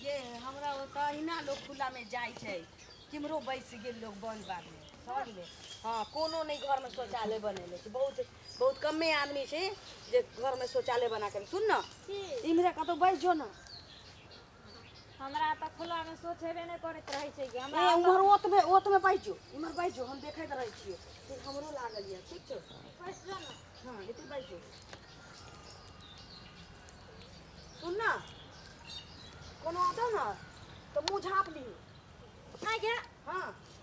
ये हमरा ओतऽ अहिना लोग खुला में जाय छै किमरो बैस गेल लोग बन बाग में समझ ले हाँ कोनो नहीं घर में शौचालय बनेले छै बहुत बहुत कमे आदमी छै जे घर में शौचालय बना के सुन न इम्हरे कतौ बैस जो न हमरा तऽ खुला मे सोच हेबे नहि करैत रहै छै कि हमरा ए ओतऽ उम्हर ओतबे ओतबे बैस जो इम्हर बैस जो हम देखैत रहै छियै से हमरो लागल यऽ ठीक छौ बैस जो ने हँ एतै बैस जो सुन ने कोनो औतौ ने तऽ मुँह झाँप लिही नहि गे हँ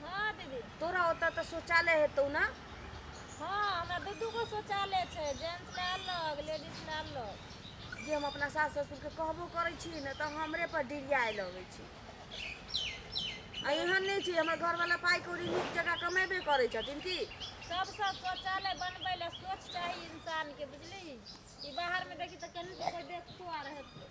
हँ दीदी तोरा ओतऽ तऽ शौचालय हेतौ ने हँ हमरा दू दूगो शौचालय छै जेंट्स लए अलग लेडीज लए अलग जे हम अपना सास ससुरके कहबो करै छी ने तऽ हमरे पर डिरियाए लगै छै आ एहन नहि छै हमर घरवला पाइ कौड़ी नीक जकाँ कमेबे करै छथिन की सबसँ शौचालय बनबै लए सोच चाही इंसान के बुझली ई बाहर मे देखी तऽ केना कोइ देखतो आर हेतै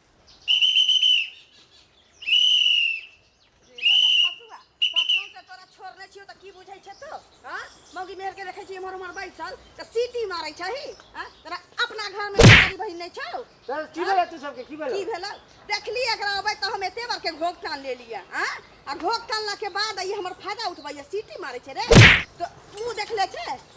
मौगी मेर के रखे छी हमर हमर बैठल त सीटी मारै छही हां तोरा अपना घर में सारी बहिन नै छौ तोर की भेल तू सबके की भेल की भेल देखली एकरा अबै त हम एते बार के घोक टान ले लिया हां आ घोक टानला के बाद ई हमर फायदा उठबैया सीटी मारै छै रे तो मुंह देख ले छै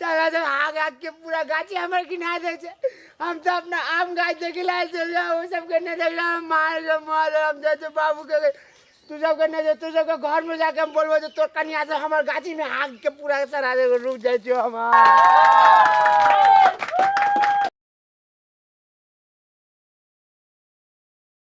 साला सब आग आग के पूरा गाछी हमर गिना दे छै हम तो अपना आम गाछ देखे ला आयल छलियै ओ सबके नहि देखला हम मार के मार हम जाइ छै बाबू के तू सबके नहि जे तू सबके घर में जाके हम बोलबो जे तोर कनिया से हमर गाछी में आग के पूरा सरा दे रुक जाइ छियो हम